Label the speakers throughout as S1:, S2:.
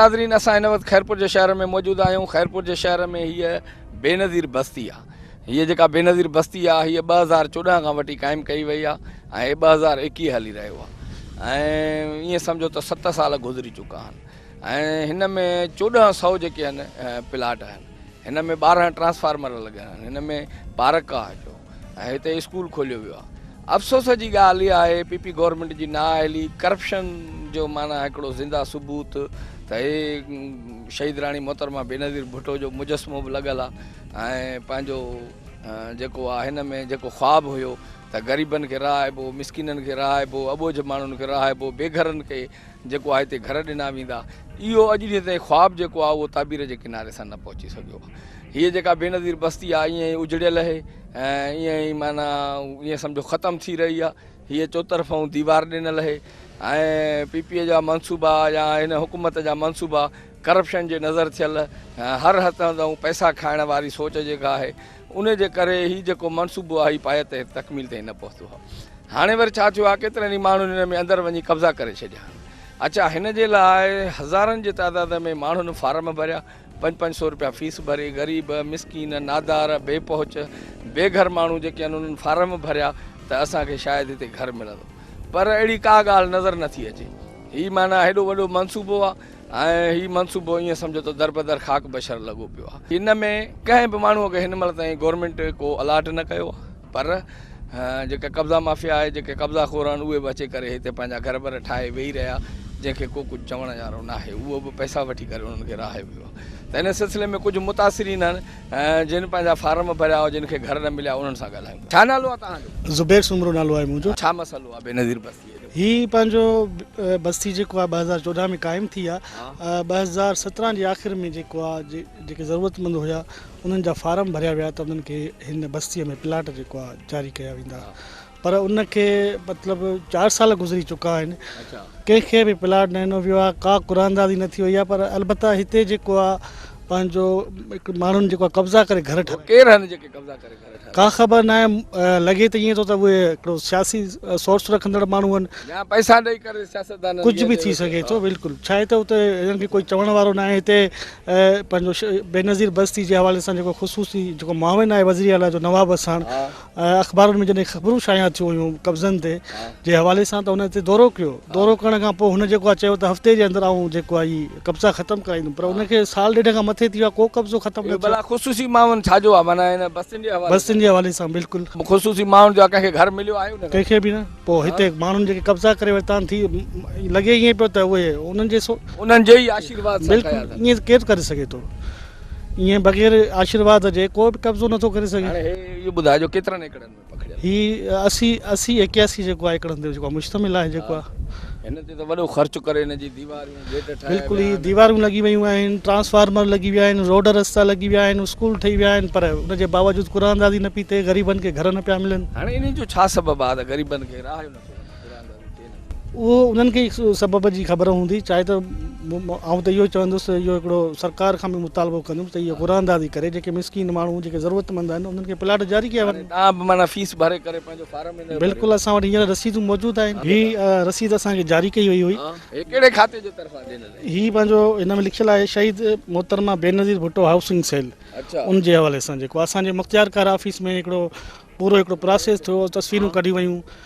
S1: ناظرين اسان هن وقت خيرپور جي شهر ۾ موجود آهيون خيرپور جي شهر ۾ هيء بي نظير بستي آهي هيء جيڪا بي نظير بستي آهي هيء ٻه هزار چوڏهن کان وٺي قائم ڪئي وئي آهي ۽ ٻه هزار ايڪيهه هلي رهيو آهي ۽ ائين سمجهو ته ست سال گذري چڪا آهن ۽ هن ۾ چوڏهن سئو جيڪي آهن پلاٽ آهن هن ۾ ٻارهن ٽرانسفارمر لڳل آهن هن ۾ پارڪ آهي هڪڙو ۽ هتي اسڪول کوليو ويو آهي افسوس جي ڳالهه اها آهي پي پي گورنمنٽ جي نااهلي ڪرپشن جو معنيٰ هڪڙو زنده ثبوت ته هي شهيد راڻي محترمه بينظير ڀٽو جو مجسمو به لڳل آهي ۽ پنهنجو جيڪو آهي هن ۾ جيڪو خواب هيو ته غريبن کي رهائبو مسڪينن کي رهائبو اٻوجهه ماڻهن کي رهائبو بيگهرن کي جيڪو آهي تي گهر ڏنا ويندا. اهو اڄ ڏينهن تائين خواب جيڪو آهي اهو تعبير جي ڪناري سان نه پهچي سگهيو. هيء جيڪا بينظير بستي آهي ائين ئي اجڙيل اهي ۽ ائين ئي معنيٰ ائين سمجهو ختم ٿي رهي آهي. هيء چوطرفئون ديوار ڏنل اهي ۽ پي پي اي جا منصوبا يا هن حڪومت جا منصوبا ڪرپشن جي نظر ٿيل هر هٿ هنڌئون پئسا کائڻ واري سوچ جيڪا آهي، انهي جي ڪري هي جيڪو منصوبو آهي پايي تي تڪميل تائين نه پهتو آهي هاڻي وري ڇا ٿيو آهي ڪيترن ئي ماڻهن هن ۾ اندر وڃي قبضا ڪري ڇڏيا آهن اچا هن جي لاء هزارن جي تعداد ۾ ماڻهن فارم ڀريا پنج پنج سئو روپيا فيس ڀري غريب مسڪين نادار بي پهچ بي گهر ماڻهو جيڪي آهن انهن فارم ڀريا ته اسان کي شايد هتي گهر ملندو پر اهڙي ڪا ڳالهه نظر نٿي اچي هي معنيٰ هيڏو وڏو منصوبو آهي ۽ هي منصوبو ائين سمجهو ته دربدر خاڪ بشر لڳو پيو آهي. ان ۾ ڪنهن به ماڻهوء کي هن مهل تائين گورنمينٽ ڪو الاٽ نه ڪيو آهي پر جيڪا قبضا مافيا آهي جيڪي قبضا خور آهن اهي به اچي ڪري هتي پنهنجا گهر بر ٺاهي ويهي رهيا جنهن کي ڪو ڪجهه چوڻ جارو ناهي اهو به پئسا وٺي ڪري انهن کي رهايو ويو آهي ته ان سلسلي ۾ ڪجهه متاثرين آهن جن پنهنجا فارم ڀريا جن کي گهر نه مليا انهن سان ڳالهايون ٿا. ڇا نالو آهي توهان جو؟ زبير سومرو نالو آهي
S2: منهنجو. ڇا مسئلو آهي بينظير
S1: بس؟ هي پنهنجو
S2: بستي جيڪو آهي ٻه هزار چوڏهن ۾ قائم ٿي آهي ٻه هزار سترهن جي آخر ۾ جيڪو آهي جيڪي ضرورت مند هيا انهن جا فارم ڀريا ويا ته انهن کي هن بستي ۾ پلاٽ جيڪو آهي جاري ڪيا ويندا پر ان کي مطلب چار سال گذري چڪا آهن ڪنهن کي به پلاٽ نه ڏنو ويو آهي ڪا قراندازي نه ٿي وئي آهي پر البته هتي جيڪو آهي پنهنجو ماڻهن جيڪو قبضا ڪري گهر ٺاهي
S1: ڪا خبر ناهي
S2: لڳي ته ائين ٿو ته اهي هڪڙو سياسي سورس رکندڙ ماڻهو آهن يا پئسا ڏئي ڪري
S1: سياستدانن کي ڪجهه به ٿي سگهي ٿو
S2: بلڪل ڇا آهي ته اتي هنن کي ڪوئي چوڻ وارو ناهي هتي پنهنجو بينظير بستي جي حوالي سان جيڪو خصوصي جيڪو معاون آهي وزير اعليٰ جو نواب اساڻ اخبارن ۾ جڏهن خبرون شايع ٿيون هيون قبضن تي جي حوالي سان ته هن هتي دورو ڪيو دورو ڪرڻ کان پوء هن جيڪو آهي چيو ته هفتي جي اندر آئون جيڪو آهي قبضا ختم ڪرائيندم پر ان کي سال ڏيڍ کان مٿي ٿي ويو آ ڪو قبضو ختم نه ٿيو آ. ڀلا خصوصي معاون ڇا جو
S1: آ معنيٰ ان بستين جي حوالي سان. بستين جي حوالي سان بلڪل.
S2: خصوصي معاون جو آ
S1: ڪنهن کي گهر مليو آهي ان کان. ڪنهن کي به نه پو
S2: هتي ماڻهن جيڪي قبضا ڪري ورتا آهن ٿي لڳي ائين پيو ته اهي انهن جي سو. انهن جي ئي آشيرواد سان ٺهيا
S1: اٿن. بلڪل ائين ڪير
S2: ڪري سگهي ٿو ائين بغير آشيرواد جي ڪو به قبضو نه ٿو ڪري سگهي. هاڻي هي اهو ٻڌاء جو
S1: ڪيترن ايڪڙن ۾. هي اسي
S2: اسي ايڪياسي جيڪو آهي هڪڙن تي جيڪو مشتمل آهي جيڪو آهي هن تي ته وڏو
S1: خرچ ڪري هن جي ديواريون گيٽ ٺاهيا ويا بلڪل هي ديواريون لڳي
S2: ويون آهن ٽرانسفارمر لڳي ويا آهن روڊ رستا لڳي ويا آهن اسڪول ٺهي ويا آهن پر ان جي باوجود قرآن اندازي نه پئي ٿئي غريبن کي گهر نه پيا ملن هاڻي انهي جو ڇا سبب
S1: آهي ته غريبن کي راهه جو نه ٿو ملي.
S2: اهو انهن کي ئي سبب جي خبر هوندي چاهي ته آئون ته اهو چوندس ته اهو هڪڙو سرڪار کان به مطالبو ڪندم ته اهي قرعه اندازي ڪري جيڪي مسڪين ماڻهو جيڪي ضرورتمند آهن انهن کي پلاٽ جاري ڪيا وڃن. ڏانهن به معنيٰ فيس ڀري
S1: ڪري پنهنجو فارم هن جو ڀريو. بلڪل اسان وٽ هينئر
S2: رسيدون موجود آهن. هي رسيد اسان کي جاري ڪئي وئي هئي. هي ڪهڙي کاتي جي
S1: طرفان ڏنل هئي؟ هي پنهنجو هن ۾
S2: لکيل آهي شهيد محترمه بينظير ڀٽو هائوسنگ سيل ان جي حوالي سان جيڪو اسان جي مختيارڪار آفيس ۾ هڪڙو پورو هڪڙو پراسيس ٿيو تصويرون ڪڍيون ويون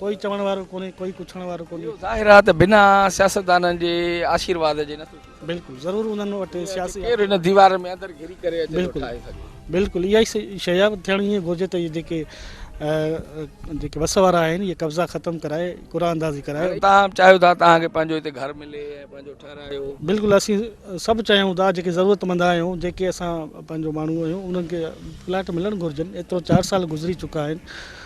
S2: ڪوئي چوڻ وارو ڪونهي ڪوئي پڇڻ وارو ڪونهي. اهو ظاهر آهي ته بنا
S1: سياستدانن جي آشيرواد جي نٿو ٿي سگهي. بلڪل ضرور انهن وٽ
S2: سياسي. ڪير هن ديوار ۾
S1: اندر گهري ڪري اچي ٿو ٺاهي سگهي.
S2: بلڪل اها ئي شيء آهي ٿيڻ ائين گهرجي ته جيڪي جيڪي وس وارا آهن اهي قبضا ختم ڪرائي قرعه اندازي ڪرائي. هاڻي توهان چاهيو ٿا توهان
S1: کي پنهنجو هتي گهر ملي ۽ پنهنجو ٺهرايو. بلڪل اسين
S2: سڀ چاهيون ٿا جيڪي ضرورتمند آهيون جيڪي اسان پنهنجو ماڻهو آهيون انهن کي پلاٽ ملڻ گهرجن ايترو چار سال گذري چڪا آهن.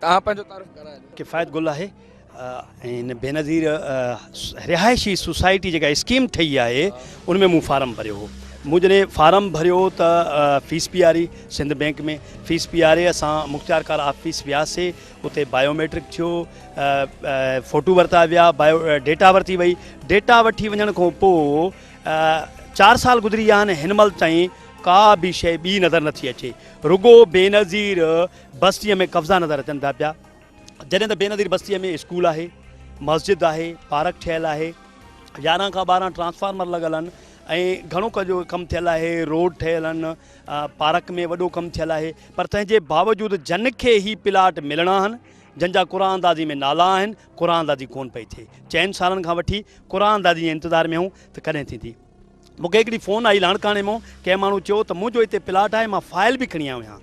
S1: توهان پنهنجو تعارف ڪرايو. ڪفايت گل آهي
S3: ۽ هن بينظير رهائشي سوسائٽي جيڪا اسڪيم ٺهي آهي ان ۾ مون فارم ڀريو هو مون جڏهن فارم ڀريو ته فيس پياري سنڌ بينڪ ۾ فيس پياري اسان مختيارڪار آفيس وياسي اتي بايو ميٽرڪ ٿيو فوٽو ورتا ويا بايو ڊيٽا ورتي وئي ڊيٽا وٺي وڃڻ کان پوء چار سال گذري ويا آهن هن مهل تائين ڪا به شيء ٻي نظر نٿي اچي رڳو بينظير بستيء ۾ قبضا نظر اچن ٿا پيا جڏهن ته بينظير بستيء ۾ اسڪول آهي مسجد آهي پارڪ ٺهيل آهي يارهن کان ٻارهن ٽرانسفارمر لڳل آهن ۽ گهڻو ڪجهه ڪم ٿيل آهي روڊ ٺهيل آهن پارڪ ۾ وڏو ڪم ٿيل آهي پر تنهن جي باوجود جن کي هي پلاٽ ملڻا آهن جن جا قرآن اندازي ۾ نالا آهن قرآن اندازي ڪون پئي ٿئي چئن سالن کان وٺي قرآن اندازي جي انتظار ۾ آهيون ته ڪڏهن ٿيندي مونکي هڪڙي فون آئي لاڻڪاڻي مون ڪنهن ماڻهو چيو ته منهنجو هتي پلاٽ آهي مان فائل به کڻي آيو آهيان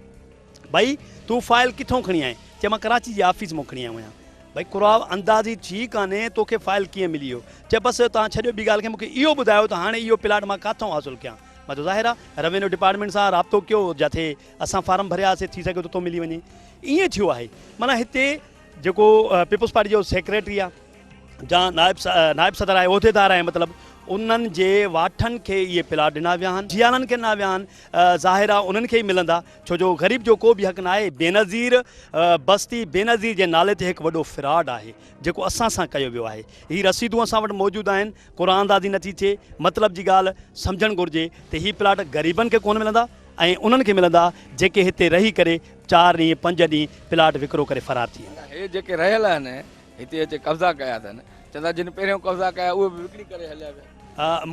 S3: ڀائي تون فائل ڪٿو کڻي آئين چي مان ڪراچي جي آفيس مون کڻي آيو آهيان ڀائي قرآ اندازي ٿي ڪانهي توکي فائل ڪيئن ملي ويو چي بس تان ڇڏيو ٻي ڳالهه کي مونکي اهو ٻڌايو ته هاڻي اهو پلاٽ مان ڪاٿو حاصل ڪيان مٿو ظاهر آ روينيو ڊپارٽمينٽ سان رابطو ڪيو جاٿي اسان فارم ڀريا هاسي ٿي سگهيو ته اتو ملي وڃي ايئن ٿيو آهي معنيٰ هتي جيڪو پيپلز پارٽي جو سيڪريٽري آ جا نائب نائب صدر آهي عهديدار آهي مطلب انهن جي واٺن کي اهي پلاٽ ڏنا ويا آهن جيالن کي ڏنا ويا آهن ظاهر آ انهن کي ئي ملندا ڇو جو غريب جو ڪو به حق ناهي بينظير بستي بينظير جي نالي تي هڪ وڏو فراڊ آهي جيڪو اسان سان ڪيو ويو آهي. هي رسيدون اسان وٽ موجود آهن، قرآن اندازي نٿي ٿئي، مطلب جي ڳالهه سمجهڻ گهرجي ته هي پلاٽ غريبن کي ڪونه ملندا ۽ انهن کي ملندا جيڪي هتي رهي ڪري چار ڏينهن پنج ڏينهن پلاٽ وڪرو ڪري فرار ٿي ويندا. هي جيڪي رهيل آهن
S1: هتي اچي قبضا ڪيا اٿن، چون ٿا جن پهريون قبضا ڪيا اهي به وڪڻي ڪري هليا ويا.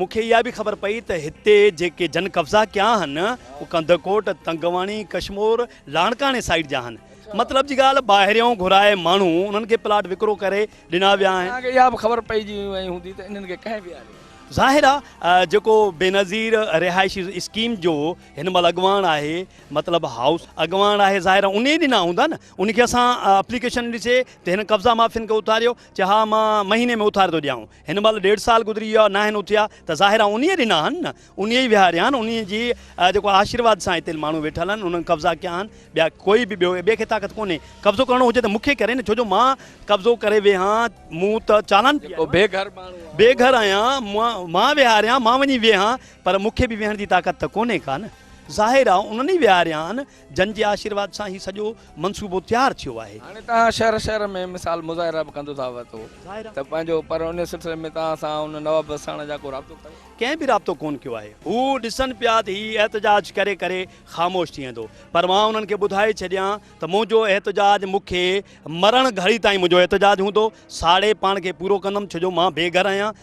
S1: مون کي اها به
S3: خبر پئي ته هتي جيڪي جن قبضا ڪيا آهن اهي ڪنڌڪوٽ، تنگواڻي، ڪشمور، لاڙڪاڻي سائيڊ جا آهن. مطلب جي ڳالهه ٻاهريون گهرائي ماڻهو انهن کي پلاٽ وڪرو ڪري ڏنا ويا آهن. توهان کي اها به خبر پئجي
S1: وئي هوندي ته انهن کي ڪنهن ويهاريو آهي. ظاهر آ
S3: جيڪو بينظير رهائشي اسڪيم جو هن مهل اڳواڻ آهي مطلب هائوس اڳواڻ آهي ظاهر آ انهي ڏنا هوندا نه ان کي اسان اپليڪيشن ڏسي ته هن قبضا معافين کي اٿاريو چي ها مان مهيني ۾ اٿاري ٿو ڏيانو هن مهل ڏيڍ سال گذري ويو آ ناهن اٿيا ته ظاهر آ انهي ڏنا آهن نه. انهيء ئي ويهاريا آهن، انهيء جي جيڪو آشيرواد سان هتي ماڻهو ويٺل آهن، انهن قبضا ڪيا آهن، ٻيا ڪوئي به ٻيو، ٻئي کي طاقت ڪونهي، قبضو ڪرڻو هجي ته مون کي ڪرين، ڇو جو مان قبضو ڪري ويهان، مون ته چالان پيو آهيان، بي گهر ماڻهو آهيان، بي گهر آهيان، مان ويهاريان، مان وڃي ويهان، پر مون کي به ويهڻ جي طاقت ته ڪونهي ڪا نه، ظاهر آ انهن ئي ويهاريا آهن، جن جي آشيرواد سان هي سڄو منصوبو تيار ٿيو آهي. هاڻي توهان شهر شهر
S1: ۾ مثال مظاهرا به ڪندو ٿا وتو ته پنهنجو پر ان سلسلي ۾ توهان سان ان نواب وساڻ جا ڪو رابطو ڪيو. ڪنهن به رابطو ڪون ڪيو
S3: آهي. هو ڏسن پيا ته هي احتجاج ڪري ڪري خاموش ٿي ويندو پر مان انهن کي ٻڌائي ڇڏيان ته منهنجو احتجاج مون کي مرڻ گهڙي تائين منهنجو احتجاج هوندو ساڙي پاڻ کي پورو ڪندم ڇو جو مان بي گهر آهيان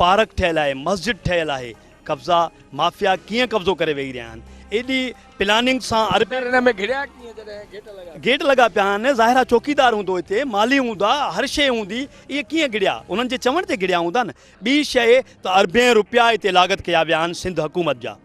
S3: پارڪ ٺهيل آهي، مسجد ٺهيل آهي، قبضا مافيا ڪيئن قبضو ڪري ويهي رهيا آهن، ايڏي پلاننگ سان اربين. اندر ان ۾ گهڙيا ڪيئن جڏهن گيٽ لڳا پيا. گيٽ لڳا پيا آهن، ظاهر آهي چوڪيدار هوندو هتي، مالي هوندا، هر شيء هوندي، اهي ڪيئن گهڙيا، انهن جي چوڻ تي گهڙيا هوندا نه، ٻي شيء ته اربين روپيا هتي لاڳت ڪيا ويا آهن سنڌ حڪومت جا.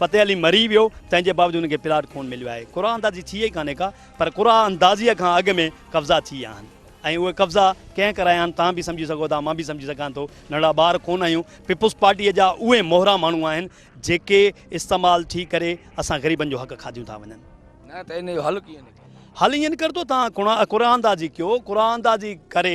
S3: فتح علي مري ويو تنهن جي باوجود هن کي پلاٽ ڪونه مليو آهي قرعه اندازي ٿي ئي ڪانهي ڪا پر قرعه اندازيء کان اڳ ۾ قبضا ٿي ويا آهن ۽ اهي قبضا ڪنهن ڪرايا آهن توهان به سمجهي سگهو ٿا مان به سمجهي سگهان ٿو ننڍڙا ٻار ڪونه آهيون پيپلز پارٽيء جا اهي مهرا ماڻهو آهن جيڪي استعمال ٿي
S1: ڪري
S3: اسان
S1: غريبن جو
S3: حق
S1: کاڌيون
S3: ٿا وڃن. نه ته ان
S1: جو حل
S3: ڪيئن
S1: نڪرندو؟
S3: حل ائين نڪرندو توهان قرعه اندازي ڪيو قرعه اندازي ڪري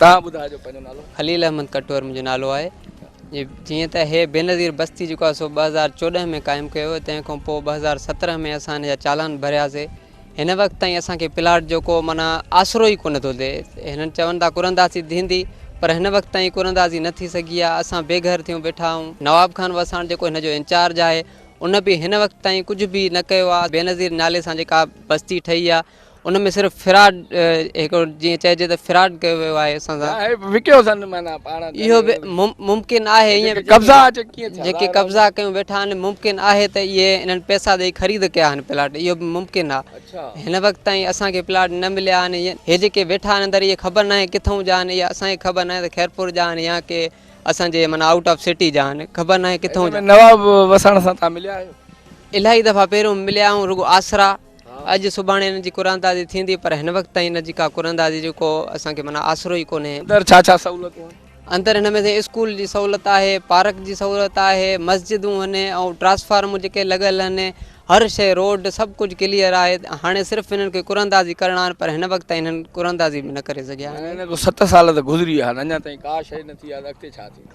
S1: توهان ٻڌائجو پنهنجو نالو. خليل احمد ڪٽور
S4: منهنجو نالو آهي جيئن ته هي بينظير بستي جيڪو آهي سو ٻه هزار چوڏهن ۾ قائم ڪيو هو تنهن کان پوء ٻه هزار سترهن ۾ اسان هن جا چالان ڀرياسي هن وقت تائين اسان کي پلاٽ جو ڪو معنيٰ آسرو ئي ڪونه ٿو ڏئي هنن چون ٿا قراندازي ٿيندي پر هن وقت تائين قراندازي نه ٿي سگهي آهي اسان بي گهر ٿيون بيٺا آهيون نواب خان وساڻ جيڪو هن جو انچارج آهي ان به هن وقت تائين ڪجهه به نه ڪيو آهي بينظير نالي سان جيڪا بستي ٺهي آهي ان ۾ صرف فراڊ هڪڙو جيئن چئجي ته فراڊ ڪيو ويو آهي اسان سان اهي وڪيو اٿن معنيٰ
S1: پاڻ اهو به
S4: ممڪن آهي ائين جيڪي قبضا اچي ڪيئن ٿيا
S1: جيڪي ظاهر قبضا ڪيون ويٺا
S4: آهن ممڪن آهي ته اهي انهن پئسا ڏيئي خريد ڪيا آهن پلاٽ اهو به ممڪن آهي آهي. اڇا هن وقت تائين اسان کي پلاٽ نه مليا آهن ائين هي جيڪي ويٺا آهن اندر اهي خبر ناهي ڪٿئون جا آهن اهي اسان کي خبر ناهي ته خيرپور جا آهن يا ڪي اسان جي معنيٰ آئوٽ آف سٽي جا آهن خبر ناهي ڪٿئون ان جا ۾ نواب وساڻ سان
S1: تان مليا آهيو الائي دفعا
S4: پهريون مليا آهيون رڳو آسرا اڄ سڀاڻي انهن جي قراندازي ٿيندي پر هن وقت تائين ان جي ڪا قراندازي جو ڪو اسان کي معنيٰ آسرو ئي ڪونهي. اندر ڇا ڇا سهولتون
S1: آهن؟ اندر هن ۾ سائين اسڪول
S4: جي سهولت آهي، پارڪ جي سهولت آهي، مسجدون هن ۽ ٽرانسفارمون جيڪي لڳل هن، هر شيء روڊ سڀ ڪجهه ڪليئر آهي، هاڻي صرف انهن کي قراندازي ڪرڻا آهن پر هن وقت تائين انهن قراندازي به نه ڪري سگهيا آهن. معنيٰ انهن کي ست سال ته گذري
S1: ويا آهن اڃا تائين ڪا شيء نه ٿي آهي ته اڳتي ڇا ٿيندو؟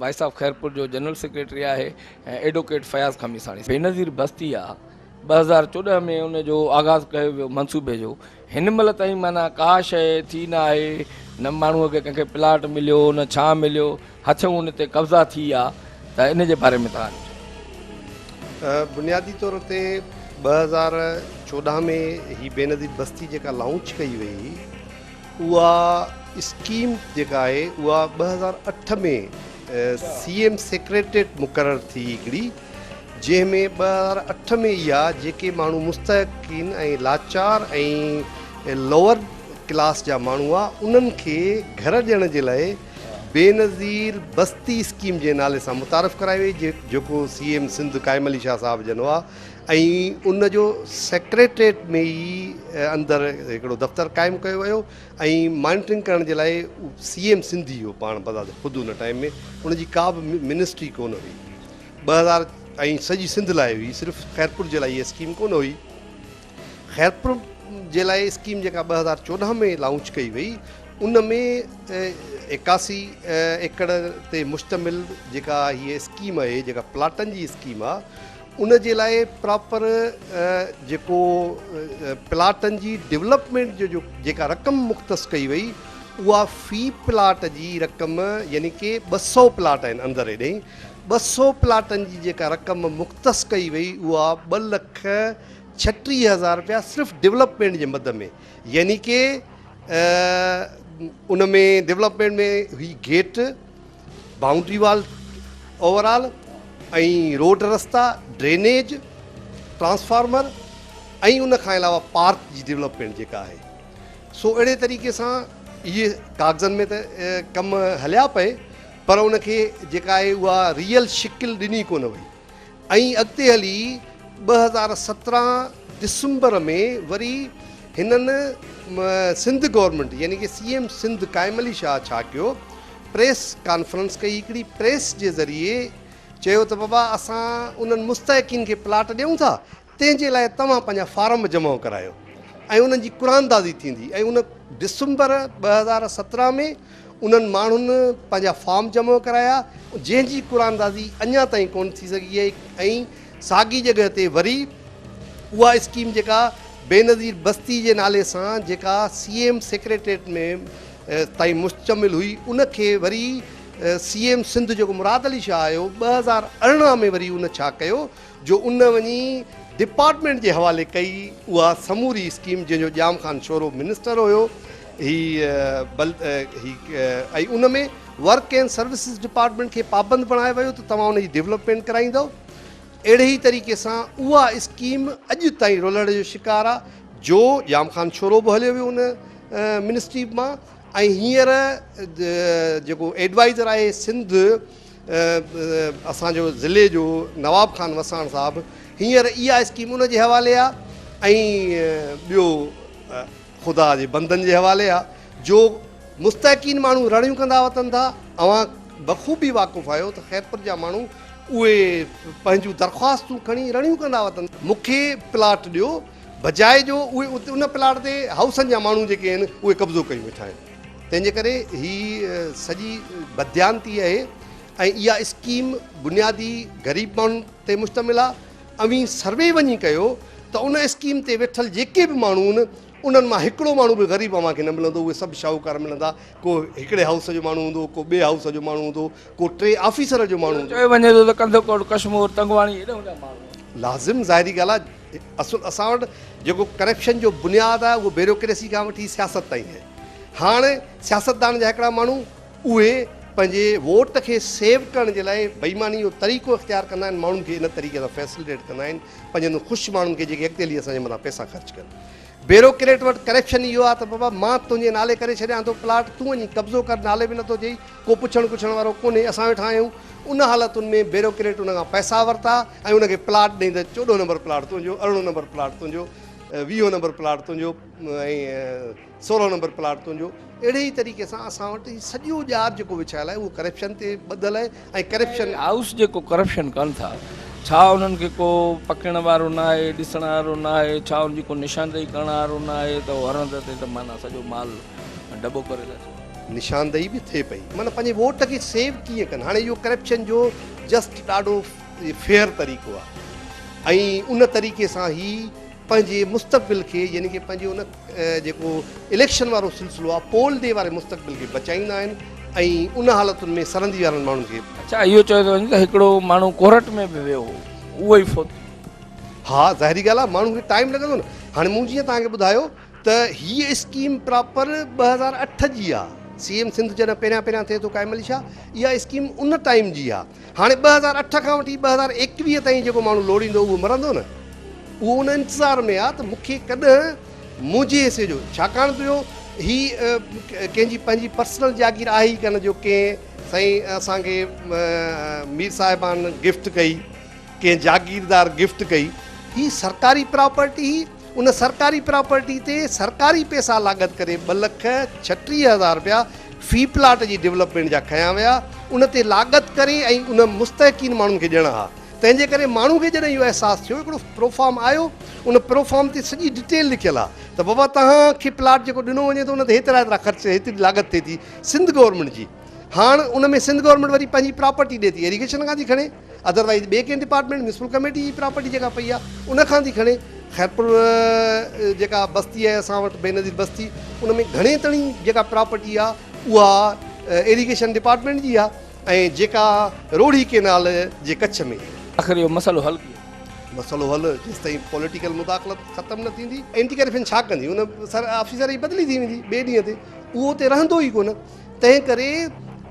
S1: ڀائي صاحب خيرپور جو جنرل سيڪريٽري آهي ۽ ايڊوڪيٽ فياض خميساڻي بينظير بستي آ ٻه هزار چوڏهن ۾ ان جو آغاز ڪيو ويو منصوبي جو هن مهل تائين معنيٰ ڪا شيء ٿي نه آهي نه ماڻهوء کي ڪنهن کي پلاٽ مليو نه ڇانء مليو هٿيون ان تي قبضا ٿي ويا ته ان جي باري ۾ توهان بنيادي طور
S5: تي ٻه هزار چوڏهن ۾ هي بينظير بستي جيڪا لانچ ڪئي وئي اها اسڪيم جيڪا آهي اها ٻه هزار اٺ ۾ سي ايم سيڪريٽريٽ مقرر ٿي هڪڙي جنهن ۾ ٻه هزار اٺ ۾ ئي آ جيڪي ماڻهو مستحقين ۽ لاچار ۽ لوئر ڪلاس جا ماڻهو آ انهن کي گهر ڏيڻ جي لاء بينظير بستي اسڪيم جي نالي سان متعارف ڪرائي وئي جيڪو سي ايم سنڌ قائم علي شاهه صاحب جن هئا ۽ ان جو سيڪريٽريٽ ۾ ئي اندر هڪڙو دفتر قائم ڪيو ويو ۽ مانيٽرنگ ڪرڻ جي لاء سي ايم سنڌي هو پاڻ بذات خود ان ٽائيم ۾ ان جي ڪا به منسٽري ڪونه هئي ٻه هزار ۽ سڄي سنڌ لاء هئي صرف خيرپور جي لاء هيء اسڪيم ڪونه هئي خيرپور جي لاء اسڪيم جيڪا ٻه هزار چوڏهن ۾ لانچ ڪئي وئي ان ۾ ايڪاسي ايڪڙ تي مشتمل جيڪا هيء اسڪيم آهي جيڪا پلاٽن جي اسڪيم آهي ان جي لاء پراپر جيڪو پلاٽن جي ڊولپمينٽ جو جيڪا رقم مختص ڪئي وئي اها في پلاٽ جي رقم يعني ڪي ٻه سؤ پلاٽ آهن اندر هيڏي ٻه سؤ پلاٽن جي جيڪا رقم مختص ڪئي وئي اها ٻه لک ڇٽيهه هزار رپيا صرف ڊولپمينٽ جي مد ۾ يعني ڪي ان ۾ ڊولپمينٽ ۾ هي gate boundary wall overall ۽ road رستا ڊرينيج ٽرانسفارمر ۽ ان کان علاوه پارڪ جي ڊولپمينٽ جيڪا آهي سو اهڙي طريقي سان اهي ڪاغذن ۾ ته ڪم هليا پئي پر ان کي جيڪا آهي اها ريئل شڪل ڏني ڪونه وئي ائين اڳتي هلي ٻه هزار سترهن ڊسمبر ۾ وري هنن سنڌ گورنمينٽ يعني ڪي سي ايم سنڌ قائم علي شاهه ڇا ڪيو پريس ڪانفرنس ڪئي هڪڙي پريس جي ذريعي چيو ته بابا اسان انهن مستحقين کي پلاٽ ڏيون ٿا تنهن جي لاء توهان پنهنجا فارم جمع ڪرايو ۽ انهن جي قراندازي ٿيندي ۽ ان ڊسمبر ٻه هزار سترهن ۾ انهن ماڻهن پنهنجا فارم جمع ڪرايا جنهن جي قراندازي اڃا تائين ڪونه ٿي سگهي آهي ۽ ساڳي جڳهه تي وري اها اسڪيم جيڪا بينظير بستي جي نالي سان جيڪا سي ايم سيڪريٽريٽ ۾ تائين مشتمل هئي ان کي وري سي ايم سنڌ جيڪو مراد علي شاهه آيو ٻه هزار ارڙهن ۾ وري ان ڇا ڪيو جو ان وڃي ڊپارٽمينٽ جي حوالي ڪئي اها سموري اسڪيم جنهن جو ڄام خان شورو منسٽر هيو هي بل هي ۽ ان ۾ ورڪ اينڊ سروسز ڊپارٽمينٽ کي پابند بڻايو ويو ته توهان ان جي ڊيولپمينٽ ڪرائيندو اهڙي ئي طريقي سان اها اسڪيم اڄ تائين رولهڙ جو شڪار آ جو ڄام خان شورو به هليو ويو ان منسٽري مان ۽ هينئر جيڪو ايڊوائزر آهي سنڌ اسان جو ضلعي جو نواب خان وساڻ صاحب هينئر اها اسڪيم ان جي حوالي آ ۽ ٻيو خدا جي بندن جي حوالي آ جو مستحقين ماڻهو رڙيون ڪندا وتن ٿا اوهان بخوبي واقف آهيو ته خيرپور جا ماڻهو اهي پنهنجون درخواستون کڻي رڙيون ڪندا وتن مونکي پلاٽ ڏيو بجاء جو اهي ان پلاٽ تي هائوسن جا ماڻهو جيڪي آهن اهي قبضو ڪيون ويٺا آهن تنهن جي ڪري هي سڄي بديانتي اهي ۽ اها اسڪيم بنيادي غريب ماڻهن تي مشتمل آهي اوهين سروي وڃي ڪيو ته ان اسڪيم تي ويٺل جيڪي به ماڻهو آهن انهن مان هڪڙو ماڻهو به غريب اوهان کي نه ملندو اهي سڀ شاهوڪار ملندا ڪو هڪڙي هائوس جو ماڻهو هوندو ڪو ٻئي هائوس جو ماڻهو هوندو ڪو ٽئي آفيسر جو ماڻهو هوندو چيو وڃي ٿو ته ڪنڌڪوٽ
S1: ڪشمور تنگواڻي هيڏانهن جا ماڻهو لازم ظاهري ڳالهه
S5: آهي اصل اسان وٽ جيڪو ڪرپشن جو بنياد آهي اهو بيروڪريسي کان وٺي سياست تائين آهي هاڻ سياستدان جا هڪڙا ماڻهو اهي پنهنجي ووٽ کي سيو ڪرڻ جي لاء بيماني جو طريقو اختيار ڪندا آهن ماڻهن کي ان طريقي سان فيسليٽيٽ ڪندا آهن پنهنجن خوش ماڻهن کي جيڪي اڳتي هلي اسان جي مٿان پئسا خرچ ڪن بيروڪريٽ وٽ ڪريپشن ئي اهو آهي ته بابا مان تنهنجي نالي ڪري ڇڏيان ٿو پلاٽ تون وڃي قبضو ڪر نالي به نٿو ٿئي ڪو پڇڻ ڪڇڻ وارو ڪونهي اسان ويٺا آهيون ان حالتن ۾ بيروڪريٽ ان کان پئسا ورتا ۽ ان کي پلاٽ ڏئي ته چوڏهون نمبر پلاٽ تنهنجو ارڙهون نمبر پلاٽ تنهنجو ويهون نمبر پلاٽ تنهنجو ۽ سورهون نمبر پلاٽ تنهنجو اهڙي ئي طريقي سان اسان وٽ هي سڄو ڄار جيڪو وڇايل آهي اهو ڪريپشن تي ٻڌل آهي ۽ ڪرپشن هائوس جيڪو ڪرپشن
S1: ڪن ٿا ڇا انهن کي ڪو پڪڙڻ وارو ناهي ڏسڻ وارو ناهي ڇا انهن جي ڪو نشاندهي ڪرڻ وارو ناهي ته هو هرهنڌ تي ته معنيٰ سڄو مال ڊٻو ڪري ٿا ڇڏين. نشاندهي به ٿئي
S5: پئي. معنيٰ پنهنجي ووٽ کي سيو ڪيئن ڪن هاڻي اهو ڪرپشن جو جسٽ ڏاڍو فيئر طريقو آهي ۽ ان طريقي سان هي پنهنجي مستقبل کي يعني ڪي پنهنجي ان جيڪو اليڪشن وارو سلسلو آهي پول ڊي واري مستقبل کي بچائيندا آهن ۽ ان حالتن ۾ سرندي وارن ماڻهن کي اچا اهو چيو ٿو وڃي ته
S1: هڪڙو ماڻهو ڪورٽ ۾ به ويو هو اهو ئي فوت ها
S5: ظاهري ڳالهه آهي ماڻهو کي ٽائيم لڳندو نه هاڻي مون جيئن توهان کي ٻڌايو ته هي اسڪيم پراپر ٻه هزار اٺ جي آهي سي ايم سنڌ جڏهن پهريان پهريان ٿئي ٿو قائم علي شاهه اها اسڪيم ان ٽائيم جي آهي هاڻي ٻه هزار اٺ کان وٺي ٻه هزار ايڪويهه تائين جيڪو ماڻهو لوڙيندو اهو مرندو نه اهو ان انتظار ۾ آ ته مون کي ڪڏهن منهنجي حصي جو ڇاڪاڻ ته جو هي ڪنهن جي پنهنجي پرسنل جاگير آهي ئي ڪانه جو ڪنهن سائين اسان کي مير صاحبان گفٽ ڪئي ڪنهن جاگيردار گفٽ ڪئي هي سرڪاري پراپرٽي ان سرڪاري پراپرٽي تي سرڪاري پئسا لاڳت ڪري ٻه لک ڇٽيهه هزار رپيا في پلاٽ جي ڊولپمينٽ جا کنيا ويا، ان تي لاڳت ڪري ۽ ان مستحقين ماڻهن کي ڏيڻا ها، تنهن جي ڪري ماڻهو کي جڏهن اهو احساس ٿيو هڪڙو پروفارم آيو، ان پروفارم تي سڄي ڊيٽيل لکيل ها ته بابا توهان کي پلاٽ جيڪو ڏنو وڃي ٿو ان تي هيترا هيترا خرچ هيتري لاڳت ٿئي ٿي سنڌ گورنمينٽ جي، هاڻ ان ۾ سنڌ گورنمينٽ وري پنهنجي پراپرٽي ڏي ٿي، ايريگيشن کان ٿي کڻي. اڌر وائيز ٻي ڪنهن ڊپارٽمينٽ ميونسپل ڪميٽي جي پراپرٽي جيڪا پئي آهي ان کان ٿي کڻي خيرپور جيڪا بستي آهي اسان وٽ بينظير بستي ان ۾ گهڻي تڻي جيڪا پراپرٽي آهي اها ايريگيشن ڊپارٽمينٽ جي آهي ۽ جيڪا روهڙي ڪينال جي ڪڇ ۾ آخر اهو مسئلو حل
S1: ڪيئن ٿيندو؟ مسئلو حل جيستائين
S5: پوليٽيڪل مداخلت ختم نه ٿيندي. اينٽي ڪرپشن ڇا ڪندي ان سر آفيسر جي بدلي ٿي ويندي ٻئي ڏينهن تي اهو اتي رهندو ئي ڪونه. تنهن ڪري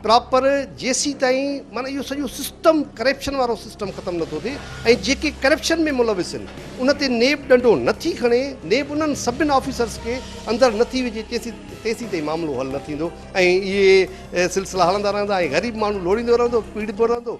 S5: پراپر جيسيتائين معنيٰ اهو سڄو سسٽم ڪرپشن وارو سسٽم ختم نٿو ٿئي ۽ جيڪي ڪرپشن ۾ ملوث ان ان تي نيب ڏنڊو نه ٿي کڻي نيب انهن سڀن آفيسرز کي اندر نه ٿي وجهي تيسي تيسيتائين معاملو حل نه ٿيندو ۽ اهي سلسلا هلندا رهندا ۽ غريب ماڻهو لوڙيندو رهندو پيڙبو رهندو.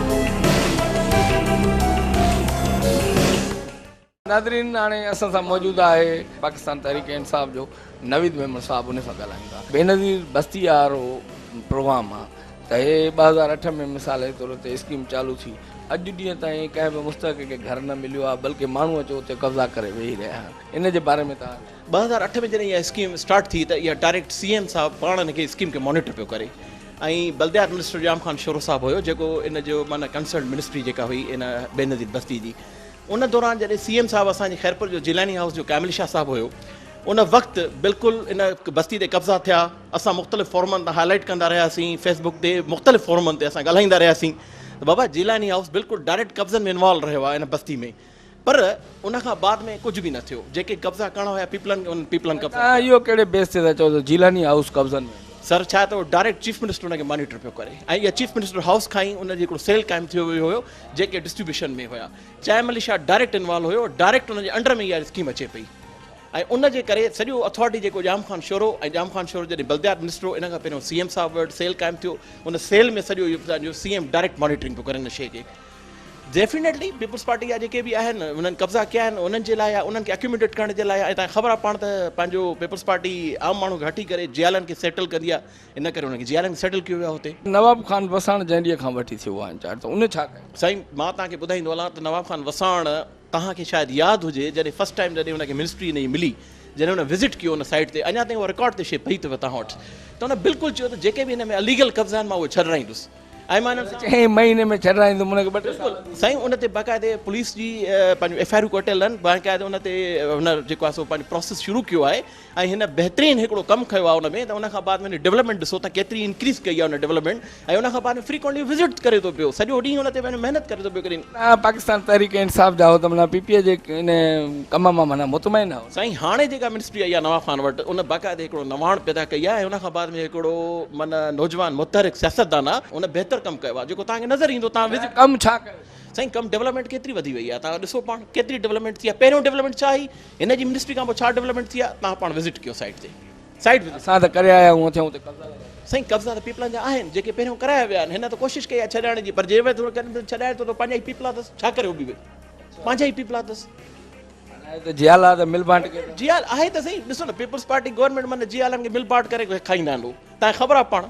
S1: ناظرين هاڻي اسان سان موجود آهي پاڪستان تحريڪ انصاف جو نويد ميمڻ صاحب ان سان ڳالهايون ٿا بينظير بستي آرو پروگرام آ ته هي ٻه هزار اٺ ۾ مثال جي طور تي اسڪيم چالو ٿي اڄ ڏينهن تائين ڪنهن به مستحق کي گهر نه مليو آ بلڪه ماڻهو اچي اتي قبضا ڪري ويهي رهيا آهن ان جي باري ۾ توهان ٻه هزار اٺ ۾ جڏهن اها
S6: اسڪيم اسٽارٽ ٿي ته اها ڊائريڪٽ سي ايم صاحب پاڻ ان کي اسڪيم کي مانيٽر پيو ڪري ۽ بلديات منسٽر ڄام خان شورو صاحب هيو جيڪو ان جو معنيٰ ڪنسرنڊ منسٽري جيڪا هئي ان بينظير بستي جي ان دوران جڏهن سي ايم صاحب اسان جي خيرپور جو جيلاني هائوس جو ڪامل شاهه صاحب هيو ان وقت بلڪل ان بستي تي قبضا ٿيا اسان مختلف فورمن تان هائلائيٽ ڪندا رهياسين فيس بڪ تي مختلف فورمن تي اسان ڳالهائيندا رهياسين بابا جيلاني هائوس بلڪل ڊائريڪٽ قبضن ۾ انوالو رهيو آهي ان بستي ۾ پر ان کان بعد ۾ ڪجهه به نه ٿيو، جيڪي قبضا ڪرڻا هيا پيپلن کي انهن پيپلن قبضا ڪيا. توهان اهو ڪهڙي بيس تي ٿا
S1: چئو ته جيلاني هائوس قبضن ۾ آهي؟ سر ڇا ته ڊائريڪٽ
S6: چيف منسٽر ان کي مانيٽر پيو ڪري ۽ اها چيف منسٽر هائوس کان ئي ان جي هڪڙو سيل قائم ٿيو ويو هيو جيڪي ڊسٽريبيوشن ۾ هيا چائي ملي شاهه ڊائريڪٽ انوالو هيو ڊائريڪٽ ان جي انڊر ۾ اها اسڪيم اچي پئي ۽ ان جي ڪري سڄو اٿارٽي جيڪو ڄام خان شورو ۽ ڄام خان شورو جڏهن بلديات منسٽر هو ان کان پهريون سي ايم صاحب وٽ سيل قائم ٿيو ان سيل ۾ سڄو اهو پنهنجو سي ايم ڊائريڪٽ مانيٽرنگ پيو ڪري ان شيء کي ڊيفينيٽلي پيپلز پارٽي جا جيڪي به آهن انهن قبضا ڪيا آهن انهن جي لاء آهي انهن کي اڪيوميٽيٽ ڪرڻ جي لاء آهي ۽ تان خبر آهي پاڻ ته پنهنجو پيپلز پارٽي عام ماڻهو کي هٽي ڪري جيالن کي سيٽل ڪندي آهي ان ڪري انهن کي جيالن کي سيٽل ڪيو ويو آهي هتي. نواب خان وساڻ
S1: جنهن ڏينهن کان وٺي ٿيو آهي انچارج ته ان ڇا ڪيو؟ سائين مان توهان کي ٻڌائيندو
S6: هلان ته نواب خان وساڻ توهان کي شايد ياد هجي جڏهن فرسٽ ٽائيم جڏهن ان کي منسٽري ان جي ملي جڏهن ان وزٽ ڪيو ان سائيٽ تي اڃا تائين اها رڪارڊ تي شي پئي اٿو توهان وٽ ته ان بلڪل چيو ته جيڪي به هن ۾ اليگل قبضا آهن مان اهي ڇڏرائيندس ۽ مان انهن کي چئين مهيني ۾ ڇڏرائيندم
S1: انهن کي ٻه ٽي سال ڏيو. سائين ان تي
S6: باقاعدي پوليس جي پنهنجون ايف آء آرون ڪٽيل آهن باقاعدي ان تي هن جيڪو آهي سو پنهنجو پروسيس شروع ڪيو آهي ۽ هن بهترين هڪڙو ڪم کيو آهي ان ۾ ته ان کان بعد ۾ ڊولپمينٽ ڏسو ته ڪيتري انڪريز ڪئي آهي ان ڊولپمينٽ ۽ ان کان بعد ۾ فريڪوئنٽلي وزٽ ڪري ٿو پيو سڄو ڏينهن ان تي پنهنجو محنت ڪري ٿو پيو پاڪستان تحريڪ
S1: انصاف جا هو ته معنيٰ پي پي اي جي ان ڪم مان معنيٰ مطمئن نه هو. سائين هاڻي جيڪا منسٽري
S6: آئي آهي نواب خان وٽ ان باقاعده هڪڙو نواڻ پيدا ڪئي آهي ۽ ان کان بعد ۾ هڪڙو معنيٰ نوجوان متحرڪ سياستدان آهي ان بهتر ڪم ڪيو آهي جيڪو توهان کي نظر ايندو توهان وزٽ ڪم ڇا ڪيو اٿس؟
S1: سائين ڪم ڊولپمينٽ
S6: ڪيتري وڌي وئي آهي توهان ڏسو پاڻ ڪيتري ڊولپمينٽ ٿي آهي پهريون ڊولپمينٽ ڇا هئي هن جي منسٽري کان پوء ڇا ڊولپمينٽ ٿي آهي توهان پاڻ وزٽ ڪيو سائيٽ تي. Site visit. اسان ته ڪري آيا آهيون اٿي اتي
S1: قبضا لڳل آهن. سائين قبضا ته پيپلان
S6: جا آهن جيڪي پهريون ڪرايا ويا آهن هن ته ڪوشش ڪئي آهي ڇڏائڻ جي پر جي ويت هو ڪن ڇڏائي ٿو ته پنهنجا ئي پيپلا اٿس ڇا ڪري هو به ويت پنهنجا ئي پيپلا اٿس. معنيٰ هي ته
S1: جيال آهي ته مل بانٽ ڪيو ٿي. جيال آهي ته سهي ڏسو
S6: نه پيپلز پارٽي گورنمينٽ معنيٰ جيالن کي مل بانٽ ڪري کائيندا آهن هو تان کي خبر آهي پاڻ.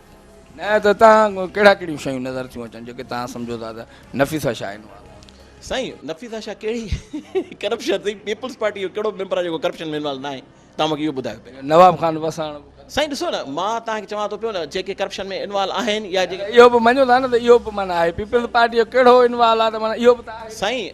S6: نه ته
S1: تان ڪهڙا ڪهڙيون شيون نظر ٿيون اچن جيڪي تان سمجهو ٿا ته نفيسه شاهه انو آ. سائين
S6: نفيسه شاهه ڪهڙي ڪرپشن سائين پيپلز پارٽي جو ڪهڙو ميمبر آ جيڪو ڪرپشن ۾ انوالو ناهي تان مونکي اهو ٻڌايو پهرين. نواب خان وساڻ.
S1: سائين ڏسو نه
S6: مان تان کي چوان ٿو پيو نه جيڪي ڪرپشن ۾ انوالو آهن يا جيڪي. اهو به مڃو ٿا نه ته اهو
S1: به معنيٰ آهي پيپلز پارٽي جو ڪهڙو انوالو آ ته معنيٰ اهو به ته آهي. سائين.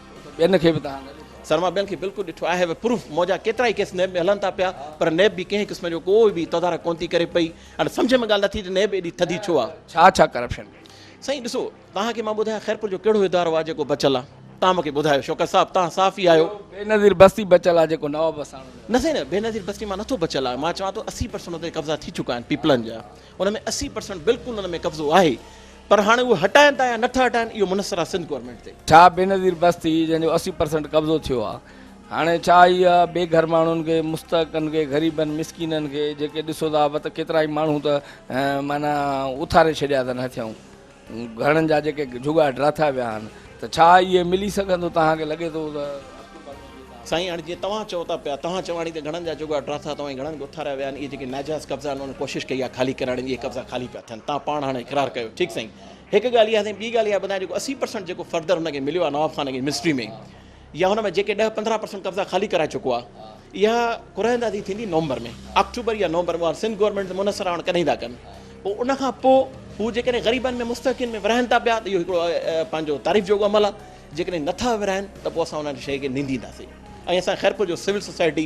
S6: ٻين کي به تهان گڏ.
S1: سر مان ٻين کي بلڪل
S6: ڏٺو آء هيو اي پروف منهنجا ڪيترا ئي ڪيس نيب ۾ هلن ٿا پيا پر نيب به ڪنهن قسم جو ڪو به تدارڪ ڪونه ٿي ڪري پئي اڻ سمجهه ۾ ڳالهه نه ٿي ته نيب ايڏي ٿڌي ڇو آ. ڇا ڇا ڪرپشن ڪئي.
S1: سائين ڏسو
S6: توهان کي مان ٻڌايان خيرپور جو ڪهڙو ادارو آ جيڪو بچل آ توهان مونکي ٻڌايو شوڪت صاحب توهان صحافي آهيو. اهو بينظير بستي
S1: بچل آ جيڪو نواب وساڻو نه. نه سائين نه بينظير
S6: بستي مان نٿو بچل آ مان چوان ٿو اسي پرسنٽ اتي قبضا ٿي چڪا آهن پيپلن جا ان ۾ اسي پرسنٽ بلڪل انهن ۾ قبضو آهي پر هاڻي اهي هٽائين ٿا يا نٿا هٽائين اهو منحصر آهي سنڌ گورنمينٽ تي. ڇا بينظير بستي
S1: جنهن جو اسي پرسنٽ قبضو ٿيو آهي هاڻي ڇا هي بي گهر ماڻهن کي مستحقن کي غريبن مسڪينن کي جيڪي ڏسو ٿا وت ڪيترائي ماڻهو ته معنيٰ اٿاري ڇڏيا اٿن هٿيون گهڻن جا جيڪي جهڳا ڊراٿا ويا آهن ته ڇا اهي ملي سگهندو توهان کي لڳي ٿو ته. سائين
S6: هاڻي جيئن توهان چئو ٿا پيا توهان چواڻي تي گهڻن جا جهڳا ڊراٿا توهان جي گهڻن اٿاريا ويا آهن اهي جيڪي ناجائز قبضا آهن انهن ڪوشش ڪئي آهي خالي ڪراڻي جي اهي قبضا خالي پيا ٿين توهان پاڻ هاڻي اقرار ڪيو ٺيڪ سائين هڪ ڳالهه اها سائين ٻي ڳالهه اها ٻڌايان جيڪو اسي پرسنٽ جيڪو فردر هن کي مليو آهي نواب خان کي منسٽري ۾ يا هن ۾ جيڪي ڏهه پندرهن پرسنٽ قبضا خالي ڪرائي چڪو آهي اها قرعه اندازي ٿيندي نومبر ۾ آڪٽوبر يا نومبر ۾ سنڌ گورنمينٽ تي منحصر آهي هاڻ ڪڏهن ٿا ڪن پوء ان کان پوء هو جيڪڏهن غريبن ۾ مستحقين ۾ ورهائن ٿا پيا ته اهو هڪڙو پنهنجو تعريف جوڳو عمل آهي جيڪڏهن نٿا ورهائن ته پوء اسان ان شيء کي نندينداسين ۽ اسان خيرپور جو سول سوسائٽي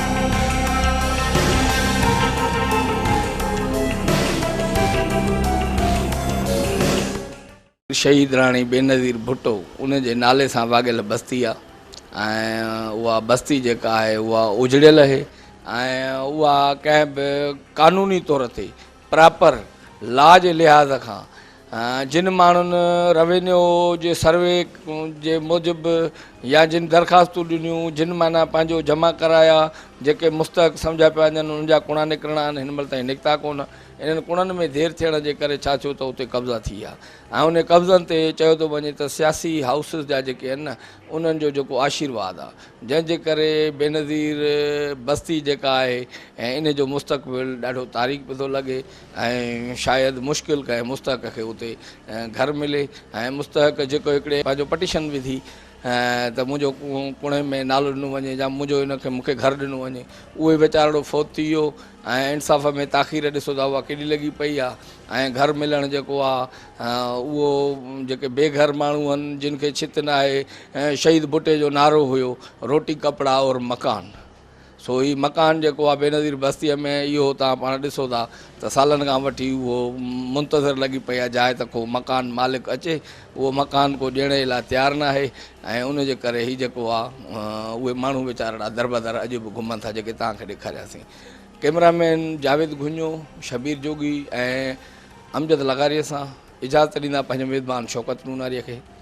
S1: شهيد راڻي بينظير ڀٽو ان جي نالي سان واڳيل بستي آ ۽ اها بستي جيڪا آهي اها اجڙيل اهي ۽ اها ڪنهن به قانوني طور تي پراپر لا جي لحاظ کان جن ماڻهن روينيو جي سروي جي موجب يا جن درخواستون ڏنيون جن معنيٰ پنهنجو جمع ڪرايا جيڪي مستحق سمجهيا پيا وڃن انهن جا ڪوڻا نڪرڻا آهن هن مهل تائين نڪتا ڪونه انهن ڪوڻن ۾ دير ٿيڻ جي ڪري ڇا ٿيو ته اتي قبضا ٿي ويا ۽ انهن قبضن تي چيو ٿو وڃي ته سياسي هائوسز جا جيڪي آهن نه انهن جو جيڪو آشيرواد آهي جنهن جي ڪري بينظير بستي جيڪا آهي ان جو مستقبل ڏاڍو تاريڪ پيو ٿو لڳي ۽ شايد مشڪل ڪنهن مستحق کي اتي گهر ملي ۽ مستحق جيڪو هڪڙي پنهنجو پٽيشن وڌي ته منهنجو ڪوڻهي ۾ نالو ڏنو وڃي يا منهنجو ان کي مون کي گهر ڏنو وڃي اهو ئي ويچارڙو فوت ٿي ويو ۽ انصاف ۾ تاخير ڏسو ته اها ڪيڏي لڳي پئي آهي ۽ گهر ملڻ جيڪو آهي اهو جيڪي بي گهر ماڻهو آهن جن کي ڇت ناهي شهيد ڀٽي جو نعرو هيو روٽي ڪپڙا اور مڪان سو هي مڪان جيڪو آ بينظير بستيء ۾ اهو توهان پاڻ ڏسو ٿا ته سالن کان وٺي اهو منتظر لڳي پئي آ جاء ته ڪو مڪان مالڪ اچي اهو مڪان ڪو ڏيڻ جي لاء تيار ناهي ۽ ان جي ڪري هي جيڪو آ اهي ماڻهو ويچارڙا دربدر اڄ به گهمن ٿا جيڪي توهان کي ڏيکارياسين ڪيمرا مين جاويد گهوڃو شبير جوڳي ۽ امجد لغاريء سان اجازت ڏيندا پنهنجي ميزبان شوڪت نوناريء کي.